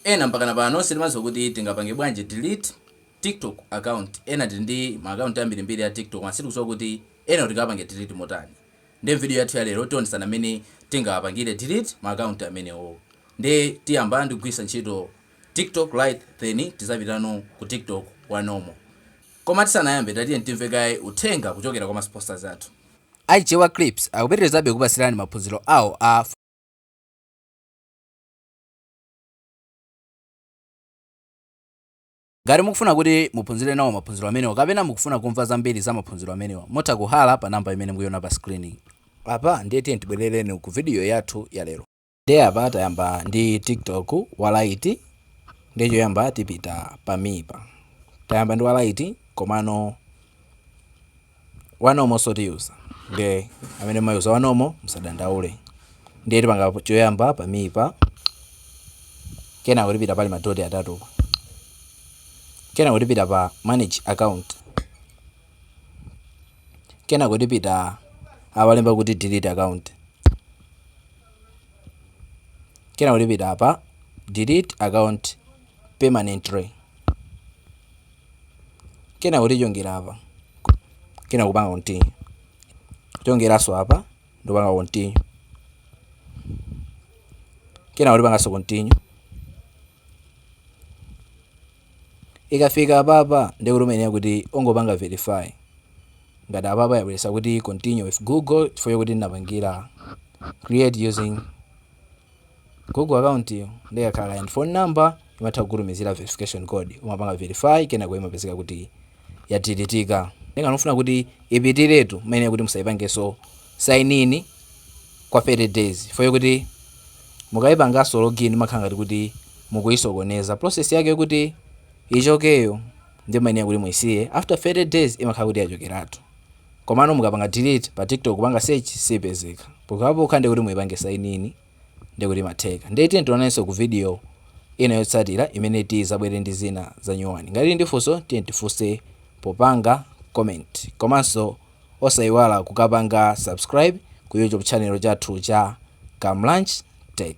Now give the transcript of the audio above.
Ena mpakana pano sitimadziwa kuti tingapange bwanji delete tiktok account, ena tili ndi ma account ambirimbiri a tiktok koma sitikudziwa kuti enawo tikawapange delete motani nde m'video yathu ya lero tionetsana mmene tingawapangire delete ma account amenewo nde tiyamba ndi kugwiritsa ntchito tiktok lite then tidzapitano ku tiktok wa normal koma tisanayambe tatiyeni timve kaye uthenga kuchokera kwa ma sponsors athu. A Chewa Clips akupitirizabe kukupatsirani maphunziro awo a. Ngati mukufuna kuti muphunzire nawo maphunziro amenewa kapena mukufuna kumva zambiri za maphunziro amenewa, mutha kuhalla pa number imene mukuiona pa screen yi. Apa ndiye tiyeni tibwerereni ku video yathu ya lero. Ndiye apa tayamba ndi TikTok wa Lite, ndiye choyamba tipita pa Me pa. Tayamba ndi wa Lite komano wa normal so otiyuza nde amene mumayuza wa normal musadandaule ndiye tipanga choyamba pa Me pa kenako tipita pali madoti atatupa kenako tipita pa manage account kenako tipita awalemba kuti delete account kenako tipita apa delete account permanently kenako tichongera apa kenako kupanga continue kuchongeranso apa ndikupanga continue kenako tipanganso continue ikafika apapa ndiye kuti umayenera kuti ungopanga verify ngati apapa yabweretsa kuti continue with google chifukwa kuti ndinapangira create using Google account yo ndikakhala ndi phone number imatha kukutumizira verification code umapanga verify kenako imapezeka kuti yadilitika nde ngati mufuna kuti ipitiretu mmene kuti musaipangenso sign in kwa 30 days foye kuti mukayipanganso login mumakhala ngati kuti mukuyisokoneza process yake yokuti ichokeyo nde mumayenera kuti muyisiye after 30 days imakhala kuti yachokeratu Komano mukapanga delete pa tiktok kupanga search sipezeka pokhapokha ndekuti muipange sign in ndekuti imatheka ndiye tiyeni tionanenso ku video Ina yotsatira imene tidzabwere ndi zina zanyuwani ngati muli ndi funso tiyeni tifunse popanga comment komanso osaiwala kukapanga subscribe ku YouTube channel chathu cha Kamlanj Tech.